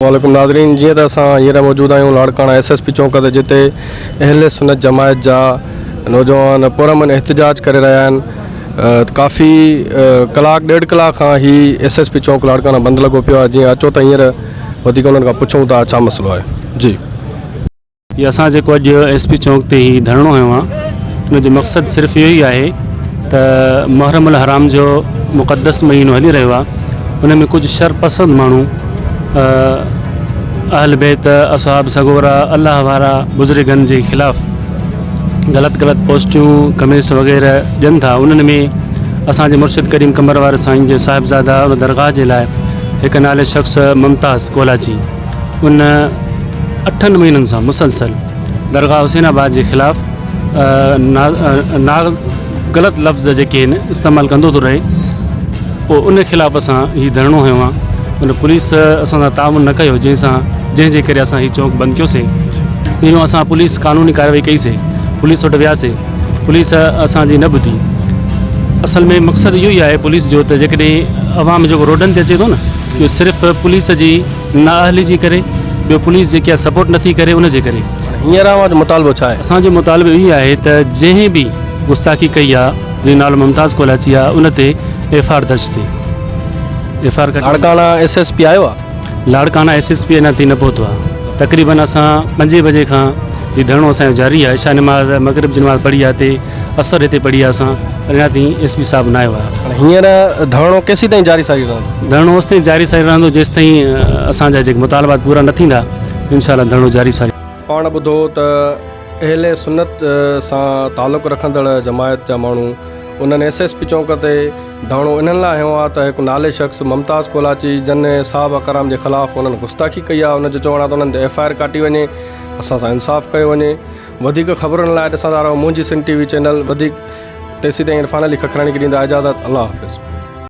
عليڪم ناظرين جيئن ته اسان هينئر موجود آهيون Larkana S S P chowk تي جتي اهل سنت جماعت جا نوجوان پرامن احتجاج ڪري رهيا آهن ڪافي ڪلاڪ ڏيڍ ڪلاڪ کان هي S S P chowk Larkana بند لڳو پيو آهي جيئن اچو ته هينئر وڌيڪ انهن کان پڇون ٿا ڇا مسئلو آهي جي هي اسان جيڪو اڄ ايس پي چونڪ تي هي ڌرڻو هنيو آ ان جو مقصد صرف اهو ئي آهي ته محرم الحرام جو مقدس مهينو هلي رهيو آ ان ۾ ڪجهه شر پسند ماڻهو اهل بيت اصحاب سڳورا الله وارا بزرگن جي خلاف غلط غلط پوسٽيون ڪمينٽس وغيره ڏين ٿا انهن ۾ اسان جي مرشد ڪريم قمر واري سائين جي صاحبزاده ان درگاهه جي لاء هڪ نالي شخص ممتاز ڪولاچي ان اٺن مهينن سان مسلسل درگاهه حسين آباد جي خلاف ناغ غلط لفظ جيڪي آهن استعمال ڪندو ٿو رهي پوء ان خلاف اسان هي ڌرڻو هنيو آهي ان پوليس اسان سان تعاون نه ڪيو جنهن سان جنهن جي ڪري اسان هي چوڪ بند ڪيو سي جنهن اسان پوليس قانوني ڪارروائي ڪئي سي پوليس وٽ ويا سي پوليس اسان جي نه ٻڌي اصل ۾ مقصد اهو ئي آهي پوليس جو ته جيڪڏهن عوام جيڪو روڊن تي اچي ٿو نه اهو صرف پوليس جي نااهلي جي ڪري ٻيو پوليس جيڪي آهي سپورٽ نٿي ڪري ان جي ڪري. هينئر اوهان جو مطالبو ڇا آهي؟ اسان جو مطالبو اهو ئي آهي ته جنهن به گستاخي ڪئي آهي جنهن جو نالو ممتاز ڪولاچي آهي ان تي ايف آر درج ٿئي F R. Larkana S S P آيو آهي؟ لاڙڪاڻا ايس ايس پي اڃا تائين نه پهتو آهي تقريبن اسان پنجين بجي کان هي ڌرڻو اسان جو جاري آهي عشاء نماز مغرب جي نماز پڙهي آهي تي اثر هتي پڙهي اسان اڃا تائين ايس پي صاحب نه آيو آهي. هاڻي هينئر ڌرڻو ڪيسين تائين جاري ساري رهندو؟ ڌرڻو اوستائين جاري ساري رهندو جيستائين اسان جا جيڪي مطالبات پورا نه ٿيندا انشاء الله ڌرڻو جاري ساري. پاڻ ٻڌو ته اهل سنت سان تعلق رکندڙ جماعت جا ماڻهو انهن ايس ايس پي چونڪ تي ڌرڻو انهن لاء هنيو آهي ته هڪ نالي شخص ممتاز ڪولاچي جن صحابه ڪرام جي خلاف انهن گستاخي ڪئي آهي ان جو چوڻ آهي ته انهن تي ايف آء آر ڪاٽي وڃي اسان سان انصاف ڪيو وڃي. وڌيڪ خبرن لاء ڏسندا رهو منهنجي سنڌ ٽي وي چينل وڌيڪ تيسيتائين عرفان علي ککراڻي کي ڏيندا اجازت الله حافظ.